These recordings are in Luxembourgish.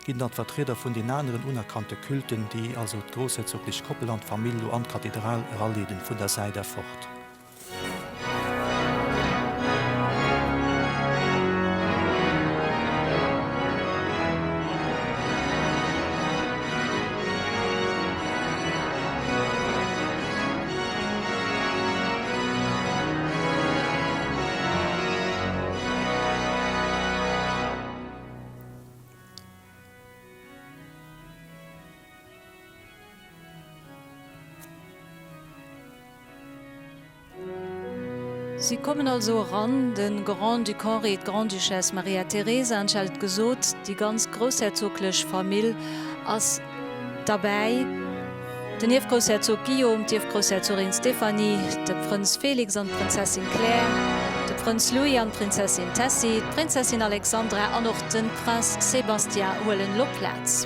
Ginn dann d'Vertrieder vun den aneren unerkannte Culten, déi also d'groussherzoglech Koppel an d'Famill lo an d'Kathedral eraleeden, vun der Säit erfort. Si kommen also eran, de Grand-Duc Henri, d'Grande-Duchesse Maria-Theresa, an ech hat et gesot, déi ganz groussherzoglech Famill ass. Derbäi, den Ierfgroussherzog Guillaume, d'Ierfgroussherzogin Stéphanie, de Prënz Félix an d'Prinzessin Claire, de Prënz Louis an d'Prinzessin Tessy, d'Prinzessin Alexandra an och de Prince Sébastien huelen elo Plaz.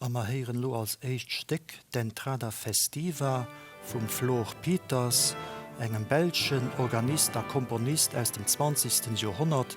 A mer héieren elo als éischt Stéck d'Entrada festiva vum Flore Pieters, engem belschen Organist a Komponist aus dem zwanzegsten Joerhonnert,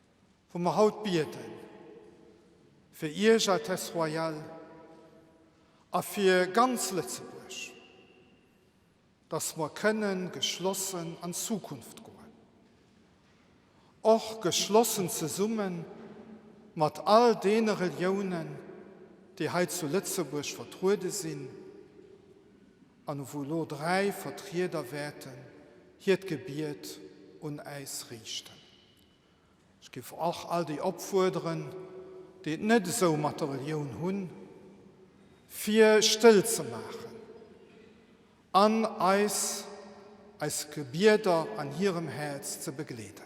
Wou mer haut biede fir Iech, Altesse Royale, a fir ganz Lëtzebuerg, dass mer kënne geschlossen an d'Zukunft goen, och geschlossen zesumme mat all deene Reliounen, déi hei zu Lëtzebuerg vertruede sinn, an wou elo dräi Vertrieder wäerten hiert Gebiet un äis riichten. Ech giff och all déi opfuerderen, déi et net esou mat der Relioun hunn, fir stëll ze maachen an eis eis Gebieder an hirem Häerz ze begleeden.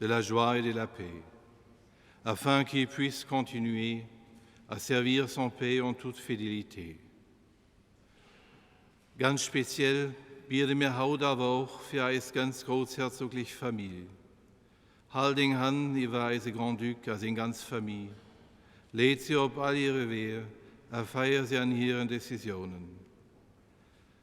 de la joie et de la paix, afin qu'il puisse continuer à servir son pays en toute fidélité. Ganz speziell biede mir haut awer och fir eis ganz groussherzoglich Famill. Hal deng Hand iwwer eise Grand-Duc a seng ganz Famille, leed se op all hire Weeër a feier se an hiren Décisionen.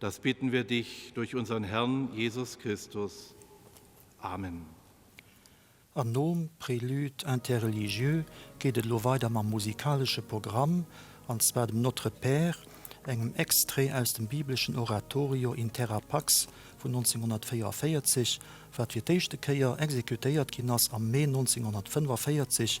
Das bitten wir dich durch unseren Herrn Jesus Christus. Amen. An nom Prélude interreligieux geet et elo weider mam musikalesche Programm, an zwar dem Notre Père, engem Extrait aus dem bibleschen Oratorio In Terra Pax vun 1944, wat fir d'éischte Kéier exekutéiert ginn ass am Mee 1945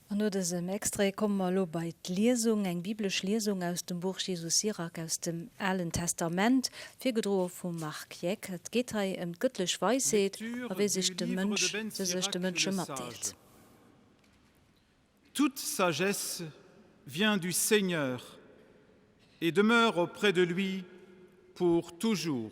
An no dësem Extrait komme mer elo bei d'Liesung, eng biblesch Liesung aus dem Buch Jesus Sirach aus dem Alen Testament, virgedroe vum Marc Jeck. Et geet hei ëm d'gëttlech Weisheet a wéi sech de Mënsch se sech de Mënsche matdeelt. Toute sagesse vient du Seigneur et demeure auprès de lui pour toujours.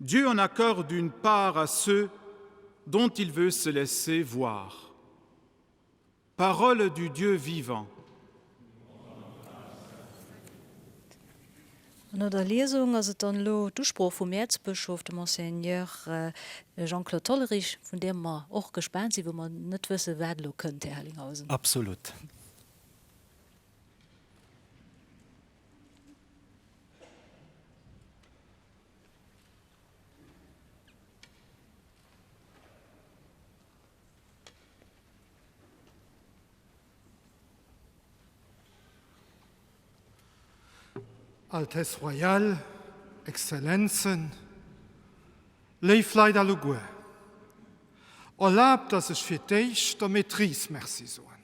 Dieu en accorde une part à ceux dont il veut se laisser voir. Paroles du Dieu vivant. An no der Liesung ass et dann elo d'Usprooch vum Äerzbëschof, dem Monseigneur Jean-Claude Hollerich, vun där mer och gespaant sinn, wou mer net wëssen, wat elo kënnt, Här Hellinghausen. Absolut. Altesse Royale, Exzellenzen, léif Leit alleguer, erlaabt, dass ech fir d'éischt der Maîtrise Merci soen.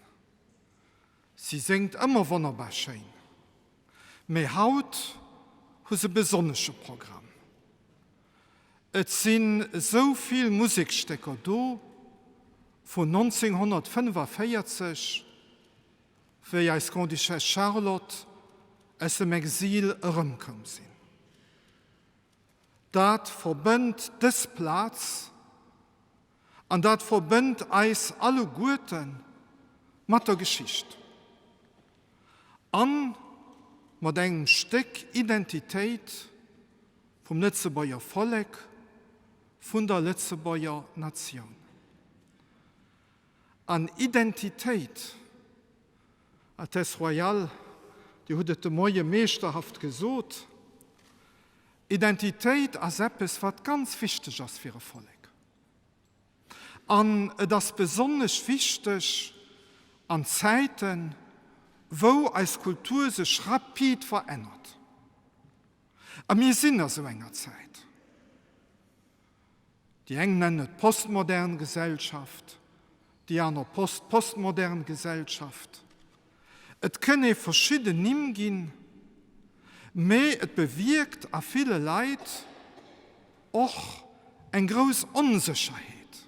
Si séngt ëmmer wonnerbar schéin. Mee haut hu se e besonnesche Programm. Et sinn esou vill Musekstécker do vun 1945, wéi eis Grande-Duchesse Charlotte aus dem Exil erëmkoum sinn. Dat verbënnt dës Plaz An dat verbënnt eis alleguerten mat der Geschicht a mat engem Stéck Identitéit vum Lëtzebuerger Vollek, vun der Lëtzebuerger Natioun. An Identitéit, Altesse Royale, Dir hutt et de Moie meeschterhaft gesot, Identitéit ass eppes, wat ganz wichteg ass fir e Vollek. An et ass besonnesch wichteg an Zäiten, wou eis Kultur sech rapid verännert, a mir sinn a sou enger Zäit, déi eng nennen et postmodern Gesellschaft, déi aner post-postmodern Gesellschaft, Et kënn ee verschidden Nimm ginn, mee et bewierkt a ville Leit och eng grouss Onsécherheet.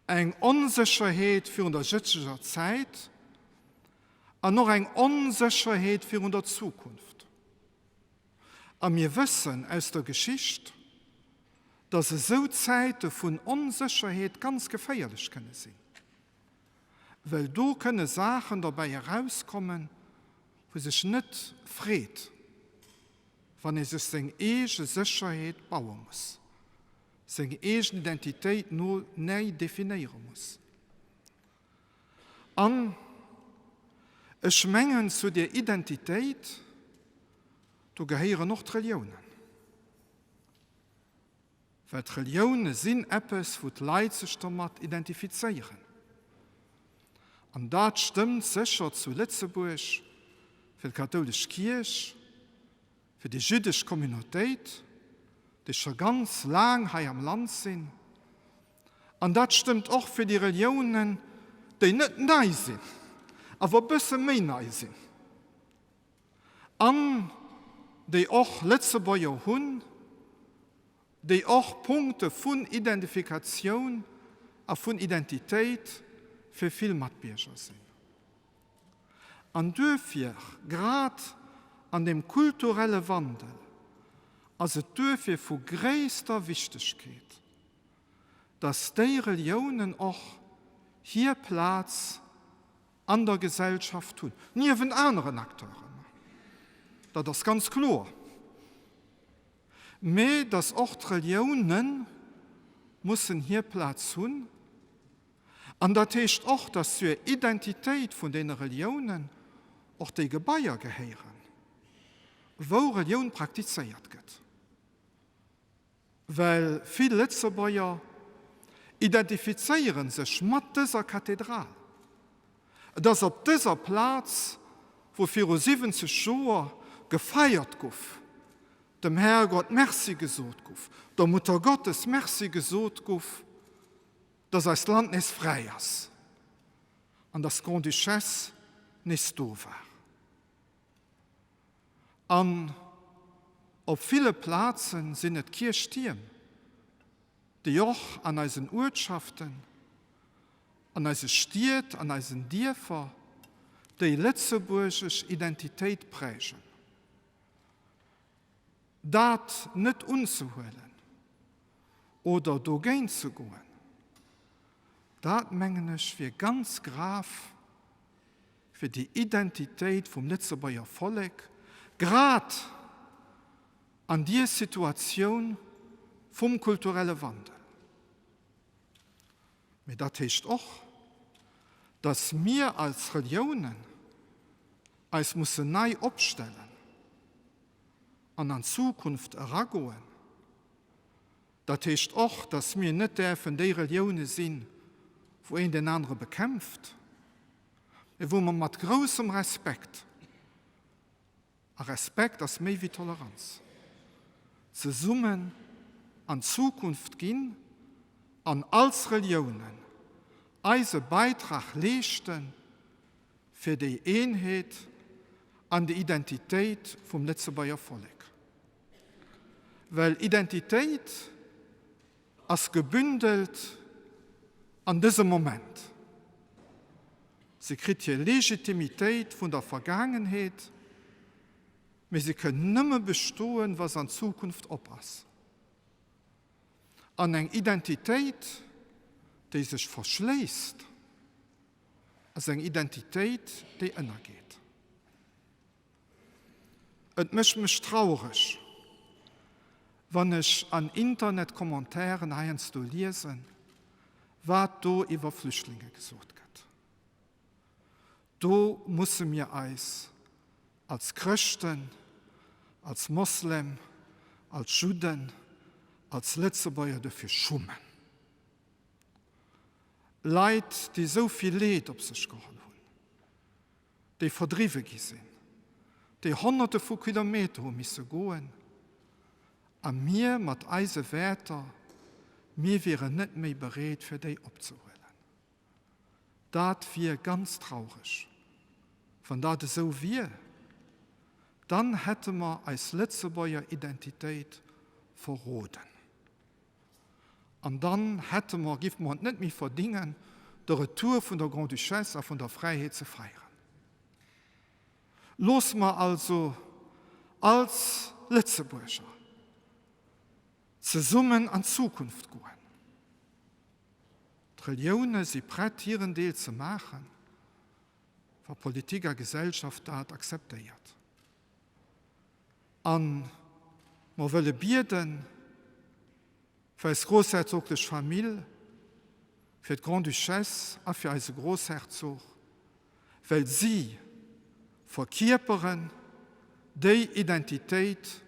Eng Onsécherheet virun der jëtzleger Zäit an och eng Onsécherheet virun der Zukunft. A mir wëssen aus der Geschicht, dass esou Zäite vun Onsécherheet ganz geféierlech kënne sinn. well do kënne Saachen dobäi erauskommen, wou sech net freet, wann ee sech seng eege Sécherheet baue muss, seng eegen Identitéit no näi definéiere muss. An ech mengen, zu där Identitéit, do gehéieren och d'Reliounen. Well d'Relioune sinn eppes, wou d'Leit sech domat identifizéieren. An dat stëmmt sécher zu Lëtzebuerg fir d'kathoulesch Kierch, fir déi jüddesch Communautéit, déi scho ganz laang hei am Land sinn. An dat stëmmt och fir déi Reliounen, déi net nei sinn, awer e bësse méi nei sinn. An déi och Lëtzebuerger hunn, déi och Punkte vun Identifikatioun a vun Identitéit fir vill Matbierger sinn. An duerfir, grad an deem kulturelle Wandel, ass et duerfir vu gréisster Wichtegkeet, datt déi Reliounen och hir Plaz an der Gesellschaft hunn, niewent aneren Acteuren, dat ass ganz kloer, mä datt och d'Relioune mussen hir Plaz hunn. An dat heescht och, datt zur Identitéit vun deene Reliounen och déi Gebaier gehéieren, wou Relioun praktizéiert gëtt. Well vill Lëtzebuerger identifizéieren sech mat dëser Kathedral. Et ass op dëser Plaz, wou viru 70 Joer gefeiert guff, dem Härgott Merci gesot guff, der Muttergottes Merci gesot guff, dass eist Land nees fräi ass an dass d'Grande-Duchesse nees do war. An op ville Plazen sinn et Kierchtierm, déi och an eisen Uertschaften, an eise Stied, an eisen Dierfer déi lëtzebuergesch Identitéit prägen. Dat net unzehuelen oder dogéint ze goen, dat mengen ech wier ganz grav fir déi Identitéit vum Lëtzebuerger Vollek grad an dier Situatioun vum kulturelle Wandel. Mee dat heescht och, datt mir als Reliounen eis mussen nei opstellen an an d'Zukunft eragoen. Dat heescht och, datt mir net däerfen déi Relioune sinn, wou een deen anere bekämpft. mee wou mer mat groussem Respekt, a Respekt ass méi wéi Toleranz, zesummen an d'Zukunft ginn an als Reliounen eise Beitrag leeschte fir déi Eenheet an déi Identitéit vum Lëtzebuerger Vollek. Well Identitéit ass gebündelt an dësem Moment. Se kritt hir Legitimitéit vun der Vergaangenheet, mee se kënn nëmme bestoen, wa s'an d'Zukunft op ass. An eng Identitéit, déi sech verschléisst, ass eng Identitéit, déi ënnergeet. Et mécht mech traureg, wann ech an Internet-Commentairen heiansdo liesen, wat do iwwer Flüchtlinge gesot gëtt. Do musse mir eis als Chrëschten, als Moslem, als Judden, als Lëtzebuerger dofir schummen. Leit, déi esou vill Leed op sech geholl hunn. déi verdriwwe gi sinn, déi Honnerte vu Kilometer hu misse goen, a mir mat eise Wäerter, mir wieren net méi bereet fir déi opzehuelen. Dat wier ganz traureg. Wann dat esou wier, dann hätte mer eis Lëtzebuerger Identitéit verroden. An dann hätte mer, giff mer et net méi verdingen, de Retour vun der Grand-Duchesse a vun der Fräiheet ze feieren. Looss mer also als Lëtzebuerger zesummen an d'Zukunft goen. D'Relioune si prett, hiren Deel ze maachen, wa Politik a Gesellschaft dat akzeptéiert. A mer wëlle bieden fir eis groussherzoglech Famill, fir d'Grande-Duchesse a fir eise Groussherzog, well si verkierperen déi Identitéit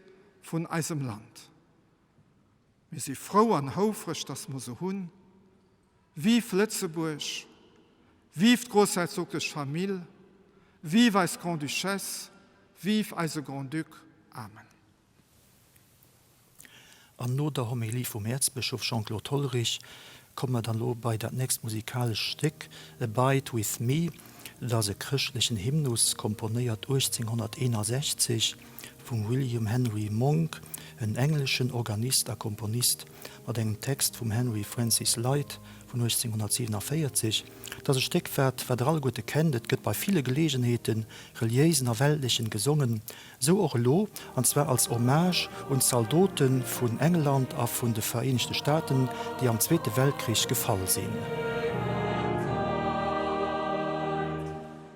vun eisem Land. Mir si frou an houfreg, dass mer se hunn, Vive Lëtzebuerg! Vive d'Groussherzoglech Famill! Vive eis Grand-Duchesse! Vive eise Grand-Duc! Amen. An no der Homilie vum Äerzbëschof Jean-Claude Hollerich komme mer dann elo bei dat nächst musikalescht Stéck, Abide with me. Et ass e chrëschtlechen Hymnus, komponéiert 1861 vum William Henry Monk, en engleschen Organist a Komponist mat engem Text vum Henry Francis Lyte vun 1847, dass e Stéck wat, wat der alleguerte kennt, et gëtt bei ville Geleegenheeten, reliéisen a weltlechen, gesongen, esou och elo, an zwar als Hommage un d'Zaldote vun England a vun de Vereenegte Staaten, déi am Zweete Weltkrich gefall sinn.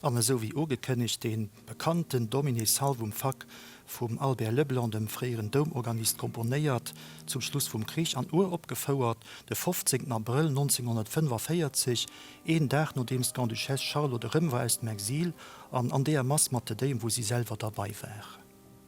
An esou wéi ugekënnegt, deen bekannten Domine salvum fac vum Albert Leblanc, dem fréieren Doumorganist, komponéiert zum Schluss vum Krich an uropgefouert de 15 Abrëll 1945, een Dag nodeems d'Grande-Duchesse Charlotte erëm war aus dem Exil, an an deeër Mass mat de Déiem, wou si selwer derbei war.